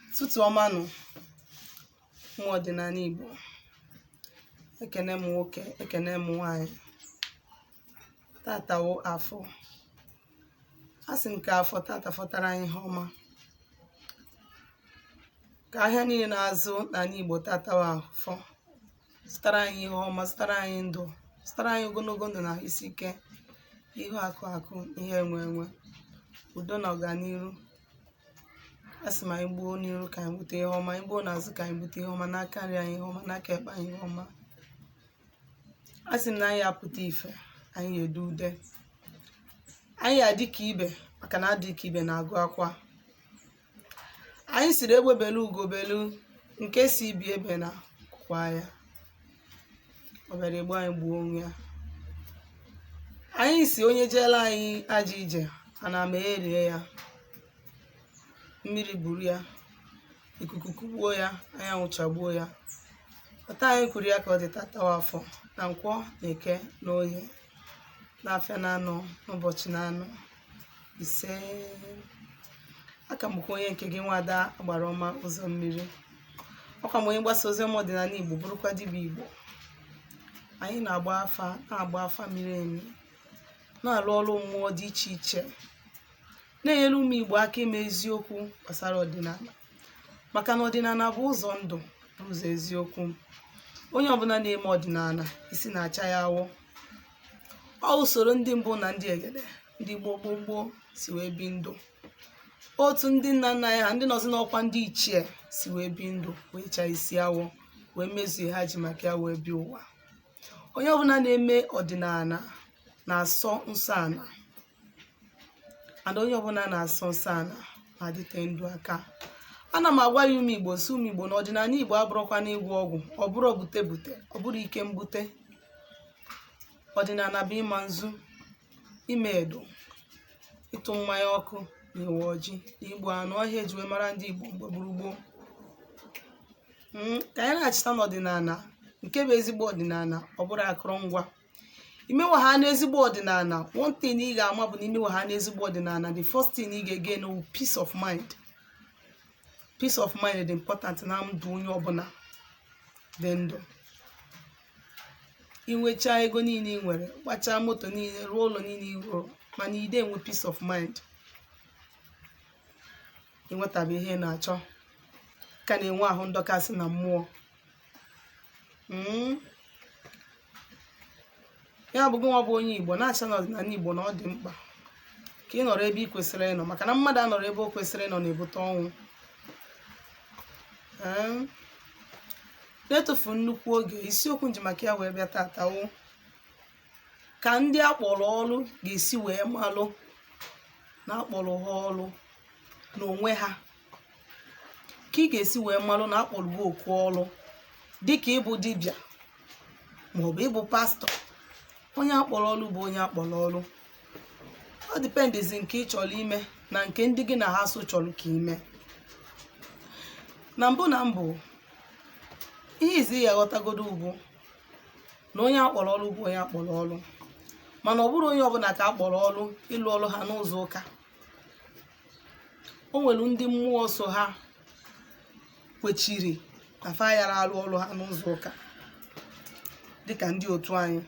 Ụtụtụ ọma nụ ụmụ ọdịnala Igbo ekene m nwoke ekene m nwanyị tata wụ afọ asị m ka afọ tata fọtara anyị ihe ọma ka ahịa niile na-azụ n'ala Igbo tata wụ afọ zụtara anyị ihe ọma zụtara anyị ndụ zụtara anyị ogologo ndụ na isi ike ihe akụ akụ ihe enwe enwe udo na ọganiru asị m anyị gbuo n'iru ka anyị bute ihe ọma anyị gbuo n'azụ ka anyị bute ihe ọma n'aka nri anyị ihe ọma n'aka ekpe anyị ihe ọma asị m na anyị ya-apụta ife anyị ya-ede ude anyị ya-adị ka ibe maka na adị ka ibe na-agụ akwa anyị siri egbe belu ugo belu nke si ibe ya ebena nku kwaa ya ọ bịara egbu anyị gbuo onwe ya anyị si onye jeela anyị ajọ ije ana mmee rie ya mmiri buru ya ikuku kugbuo ya anyanwụ chagbuo ya otu anyị kwuru ya ka ọ dị tata wụ afọ na nkwọ na eke na oye na afịa na anọ n'ụbọchị na anọ ise aka m bụkwa onye nke gị nwada agbara ọma ụzọ mmiri ọkwa m onye mgbasa ozi ọma ọdịnala igbo bụrụkwa dibịa igbo anyị na-agba afa na-agba afa miri emi na-alụ ọrụ mmụọ dị iche iche na-enyere ụmụ igbo aka ime eziokwu gbasara ọdịnala maka na ọdịnala bụ ụzọ ndụ bụ ụzọ eziokwu onye ọbụla na-eme ọdịnala isi na-acha ya awọ ọ usoro ndị mbụ na ndị egede ndị gboo gboo gboo si wee bi ndụ otu ndị nna nna anyị ha ndị nọzi n'ọkwa ndị ichie si wee bi ndụ wee chaa isi awọ wee mezuo ihe ha ji maka ya wee bịa ụwa onye ọbụla na-eme ọdịnala na-asọ nsọ ana and onye ọbụla na-asọ nsọ ana na-adịte ndụ aka ana m agwa ya ụmụ igbo si ụmụ igbo na ọdịnala igbo abụrọkwa na ịgwọ ọgwụ ọ bụrọ bute bute ọ bụrọ ike mbute ọdịnala bụ ịma nzu ime edo ịtụ mmanya ọkụ na ịwa ọjị na igbu anụ ọ ihe eji wee mara ndị igbo mgbe gboo gboo ka anyị na-echeta na ọdịnala nke bụ ezigbo ọdịnala ọ bụrọ akụrụngwa imewe ha n'ezigbo ọdịnala one thing ị ga-ama bụ na imewe ha n'ezigbo ọdịnala the first thing ị ga-again wụ peace of mind peace of mind dị important na ndụ onye ọbụla dị ndụ inwechaa ego niile ị nwere gbachaa moto niile rụọ ụlọ niile ị rụrụ mana ide enwe peace of mind ịnwetabe ihe ị na-achọ ka na-enwe ahụ ndọkasị na mmụọ hmm? ya bụ gịnwa bụ onye igbo na-acha na ọdịnala igbo na ọ dị mkpa ka ị nọrọ ebe ị kwesịrị ịnọ maka na mmadụ anọrọ ebe o kwesịrị ịnọ na-ebute ọnwụ hmm? na-etufu nnukwu oge isiokwu m ji maka ya wee bịa tata wụ ka ndị akpọrọ ọrụ ga-esi wee malụ na akpọrọ ha ọrụ n'onwe ha ka ị ga-esi wee malụ na akpọrọ gị oku ọrụ dịka ịbụ dibịa maọbụ ịbụ pastor onye akpọrọ ọrụ bụ onye akpọrọ ọrụ ọ dependizi nke ị chọrọ ime na nke ndị gị na ha so chọrọ ka i mee na mbụ na mbụ ihe izi ị ya-aghọtagodo bụ na onye akpọrọ ọrụ bụ onye akpọrọ ọrụ mana ọ bụrọ onye ọbụla ka akpọrọ ọrụ ịlụ ọrụ ha n'ụzọ ụka o nwere ndị mmụọ so ha kwechiri na fa yara arụ ọrụ ha n'ụzọ ụka dịka ndị otu anyị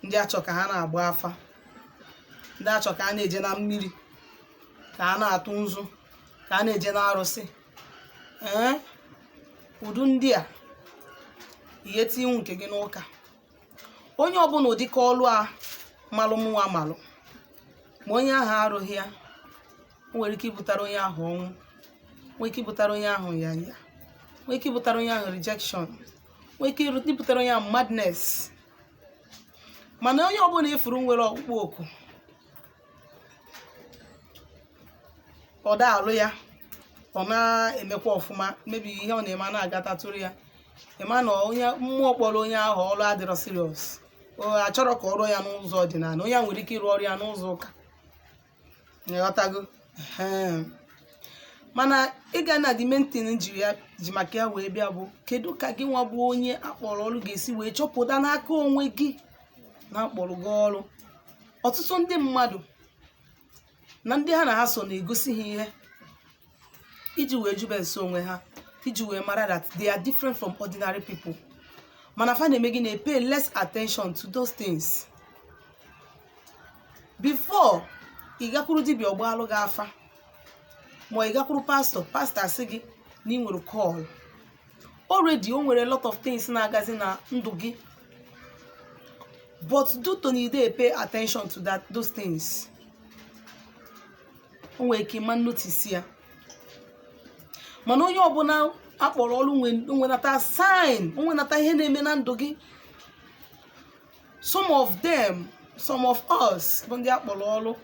ndị achọ ka ha na-agba afa ndị achọ ka ha na-eje na mmiri ka ha na-atụ nzu ka ha na-eje na arụsị ee ụdị ndị a ihe tinwu nke gị n'ụka onye ọbụla ụdịka ọlụ a malụ mụnwa malụ ma onye ahụ arụghị ya o nwere ike ibutara onye ahụ ọnwụ nwee ike ibutara onye ahụ ya ya nwee ike ibutara onye ahụ rejection nwee ike iru- ibutara onye ahụ madness mana onye ọbụla ị fụrụ nwere ọkpụkpọ oku ọ da alụ ya ọ na-emekwa ọfụma maybe ihe ọ na-eme a na-agatatụrụ ya ị ma na onye mmụọ kpọrọ onye ahụ ọrụ adịrọ serious achọrọ ka ọ rụọ ya n'ụzọ ọdịnala onye a nwere ike ịrụ ọrụ ya n'ụzọ ụka ị ghọtago Ehem. mana ịga na the main thing m ji maka ya wee bịa bụ kedu ka gị nwa bụ onye akpọrọ ọrụ ga-esi wee chọpụta n'aka onwe gị na akpọrọ gị ọrụ ọtụtụ ndị mmadụ na ndị ha na ha so na-egosi ha ihe iji wee jụbe ese onwe ha iji wee mara that they are different from ordinary people mana fa na-eme gị na-pay less attention to those things before ị gakwuru dibịa ọ gbaalụ gị afa ma ị gakwuru pastor pastor asị gị na ị nwere call already o nwere a lot of things na-agazi na ndụ gị but due to na ị de pay attention to those things o nwere ike ị ma notice ya mana onye ọbụla akpọrọ ọrụ nwe- nwenata sign o nwenata ihe na-eme na ndụ gị some of them some of us bụ ndị akpọrọ ọrụ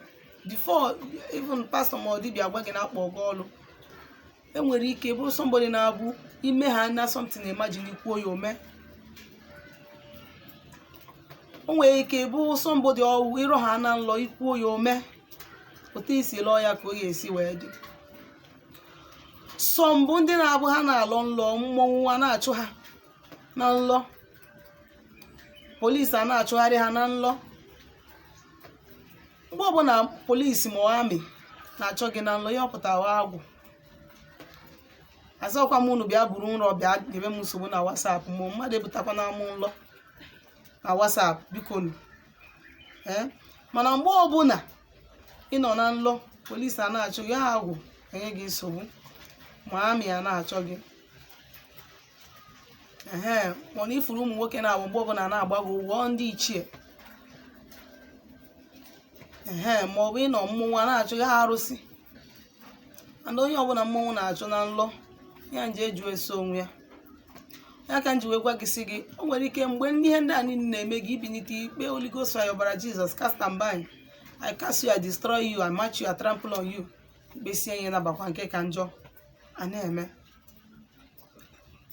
before even pastor ma ọ dibịa agwa gị na akpọ gị ọrụ enwere ike bụrụ somebody na-abụ ime ha na something imagine ikwuo ya ome o nwere ike bụ somebody ọwụ ịrọ ha na nlọ ikwuo ya ome otu isi lọọ ya ka ọ ga-esi wee dị some bụ ndị na-abụ ha na-alọ nlọ mmọnwụ a na-achụ ha na nlọ polisi a na-achụgharị ha na nlọ mgbe ọbụla polisi ma amị na-achụ gị na nlọ ihe ọ pụta wụ agwụ azọkwa m unu bịa buru nrọ bịa nyebe m nsogbu na WhatsApp ma mmadụ ebutakwana mụ nlọ na WhatsApp bikonụ ee mana mgbe ọbụla ị nọ na nlọ polisi a na-achụ gị ọ agwụ enye gị nsogbu ma amị a na-achụ gị ehe mana ifuru ụmụ nwoke na-awụ mgbe ọbụla na-agbago ugwu ọ ndị ichie ehe ma ọ bụ ịnọ mmọnwụ a na-achụ gị ọ arụsị and onye ọbụla mmọnwụ na-achụ na nlọ ya jee jụọ ese onwe ya ya ka m ji wee gwa gị sị gị o nwere ike mgbe ndị ihe ndị a niile na-eme gị ibinite ikpe Holy Ghost fire ọbara Jizọs cast and bind I cast you I destroy you I match you I trample on you ikpesịa ihe nabakwa nke ka njọ a na-eme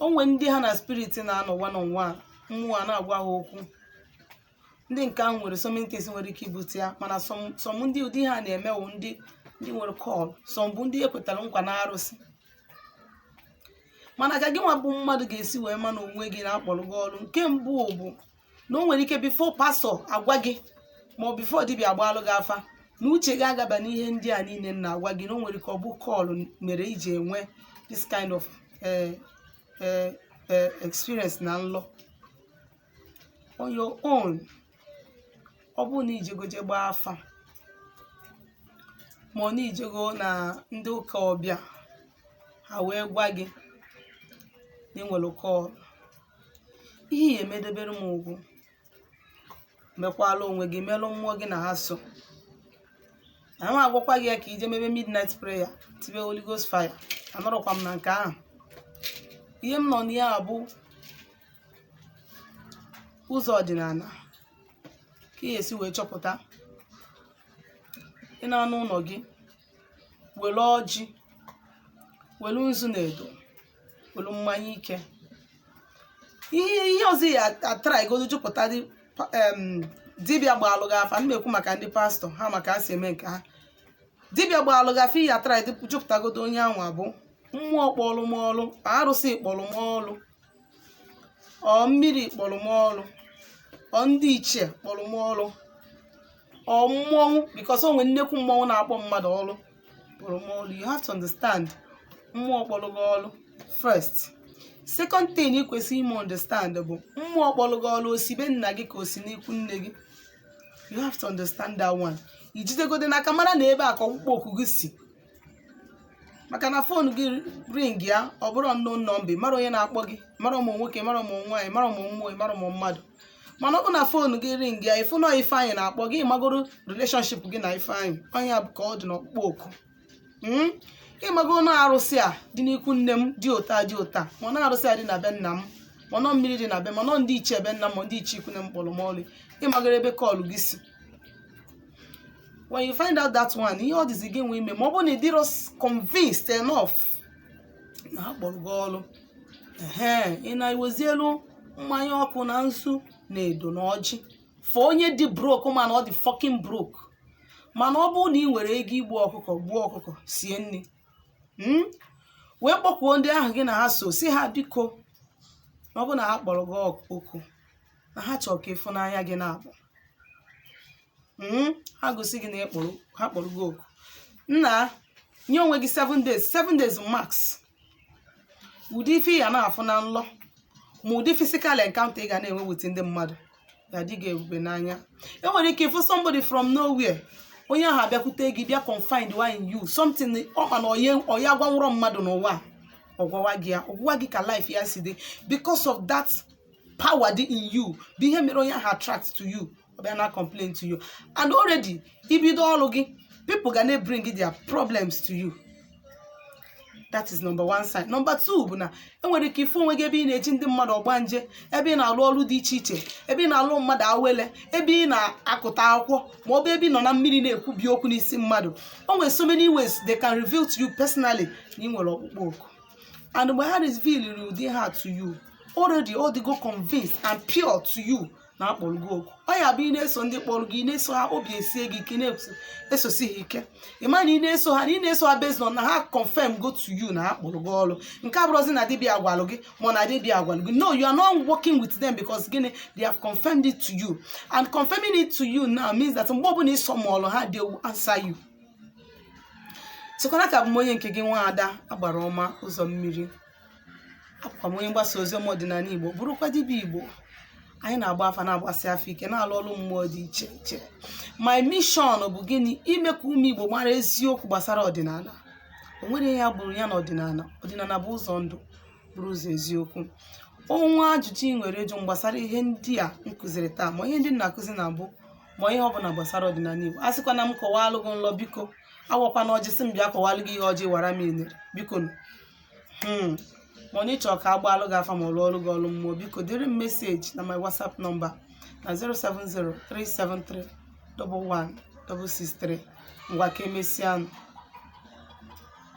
o nwere ndị ha na spirit na-anọ one on one mmụọ a na-agwa ha okwu ndị nke ahụ nwere so many things nwere ike ibute ya mana some some ndị ụdị ihe a na-eme wụ ndị ndị nwere call some bụ ndị ekwetara nkwa na arụsị mana ka gị nwa bụ mmadụ ga-esi wee ma na onwe gị na akpọrọ gị ọrụ nke mbụ bụ na o nwere ike before pastọ agwa gị ma ọ before dibịa agbaalụ gị afa na uche gị agaba n'ihe ndị a niile m na-agwa gị na o nwere ike ọ bụ call mere iji enwe this kind of eh, eh, eh, experience na nlọ on your own ọ bụrụ na ijego je gbaa afa ma ọ na ijego na ndị ụka ọbịa ha wee gwa gị na ị nwere call ihe ị ya-eme debere m ugwu mekwalụ onwe gị melụ mmụọ gị na ha so ama m agwakwa gị ya ka ije mebe midnight prayer tibe Holy Ghost fire anọrọkwa m na nke ahụ ihe m nọ na ya bụ ụzọ ọdịnala ka ị ya-esi wee chọpụta ị naa n'ụlọ gị were ọjị were nzu na edo welụ mmanya ike ihe ihe ọzọ ị ya-atraigodu jụpụta dị pa- em, dibịa gbaalụ gị afa m ma-ekwu maka ndị pastọ ha ma ka ha si eme nke ha dibịa gbaalụ gị afa ị ya-atrai jụpụtagodo onye anwa bụ mmụọ kpọlụ m ọlụ arụsị kpọlụ m ọlụ ọ mmiri kpọlụ m ọlụ ọ ndị ichie kpọlụ m ọlụ ọ mmọnwụ because o nwere nnekwu mmọnwụ na-akpọ mmadụ ọrụ kpọrọ m ọrụ you have to understand mmụọ kpọrọ gị ọrụ first second thing ị kwesịrị ime understand bụ mmụọ kpọrọ gị ọrụ o si be nna gị ka o si n'ikwu nne gị you have to understand that one i jidegodo n'aka mara na ebe a ka ọkpụkpọ oku gị si maka na phone gị ringịa ọ bụrụ unknown number ị marọ onye na-akpọ gị marọ ma ọ nwoke marọ ma ọ nwaanyị marọ ma ọ mmụọ marọ ma ọ mmadụ mana ọ bụ na phone gị ringịa ị fụ na ifeanyị na-akpọ gị magoro relationship gị na ifeanyị ọ nya bụ ka ọ dị n'ọkpụkpọ oku Mm? ị mago na arụsị a dị n'ikwu nne m dị ụta dị ụta ma na arụsị a dị na be nna m ma na ọ mmiri dị na be ma na ọ ndị ichie be nna m ma ndị ichie ikwu nne m kpọrọ m ọlụ ị magoro ebe call gị si when you find out that one ihe ọ dịzi gị nwe ime ma ọ bụrụ na ị dịrọ convinced enough na ha kpọrọ gị ọrụ ehe ị na-ewezielu mmanya ọkụ na nzu na edo na ọjị for onye dị broke ma na ọ dị fucking broke mana ọ bụrụ na ị nwere ego igbu ọkụkọ gbuo ọkụkọ sie nri mm? wee kpọkwuo ndị ahụ gị na ha so sị ha biko na ọ bụ na ha kpọrọ gị ọk- oku na ha chọrọ ka ị fụ n'anya gị naabọ ha gosi gị na a kpọrọ ha kpọrọ gị oku nna nye onwe gị 7 days 7 days max ụdị ife ị ya na-afụ na nlọ ma ụdị physical encounter ị ga na-enwe with ndị mmadụ ya-adị gị ebube n'anya i nwere ike ịfụ somebody from nowhere onye ahụ abịakwute gị bịa confide in you something ọ ma na ọ ya-agwanwurọ mmadụ n'ụwa a, ọ gwawa gị ya ọ gwawa gị ka life ya si dị because of that power dị in you bụ ihe mere onye ahụ attract to you ọ bịa na-complain to you and already i bido ọrụ gị people ga na bring their problems to you that is number one sign number two bụ na i nwere ike ịfụ onwe gị ebe ị na-eji ndị mmadụ ọgbanje ebe ị na-alụ ọrụ dị iche iche ebe ị na-alụ mmadụ awele ebe ị na-akụta akwụkwọ ma ọ bụ ebe ị nọ na mmiri na-ekwubi okwu n'isi mmadụ o nwere so many ways they can reveal to you personally na ị nwere ọkpụkpọ oku and mgbe ha revealiri ụdị a to you already ọ dịgo convinced and pure to you na a kpọrọ gị oku ọ ya bụ ị na-eso ndị kpọrọ gị ị na-eso ha obi esie gị ike na-esosi ha ike ị ma na ị na-eso ha na ị na-eso ha based on na ha confirmgo to you na ha kpọrọ gị ọrụ nke a abụrọzi na dibịa gwalụ gị ma na dibịa gwalụ gị no you are now working with them because gịnị they have confirmed it to you and confirming it to you now means that mgbe ọ bụla ị summonụrụ ha they will answer you sịkwara ka abụ m onye nke gị nwa ada agbara ọma ụzọ mmiri abụkwa m onye mgbasa ozi ọma ọdịnala igbo bụrụkwa dibịa igbo anyị na-agba afa na-agbasi afa ike na-alụ ọrụ mmụọ dị iche iche my mission bụ gịnị ime ka ụmụ igbo mara eziokwu gbasara ọdịnala o nwere ihe ya bụrụ ya na ọdịnala ọdịnala bụ ụzọ ndụ bụrụ ụzọ eziokwu o nwee ajụjụ i nwere ịjụ m gbasara ihe ndị a m kụziri taa ma ihe ndị m na-akụzi na mbụ ma ihe ọ bụla gbasara ọdịnala Igbo asịkwana m kọwalụ gị nlọ biko awakwana ọjị sị m bịa kọwalụ gị ihe ọjị wara meanere biko nụ. Hmm. ma onye chọrọ ka a gbaalụ gị afa ma ọ lụọlụ gị ọlụ mmụọ biko deere m meseji na my whatsapp nọmba na 07037311663 ngwa ka emesịa nụ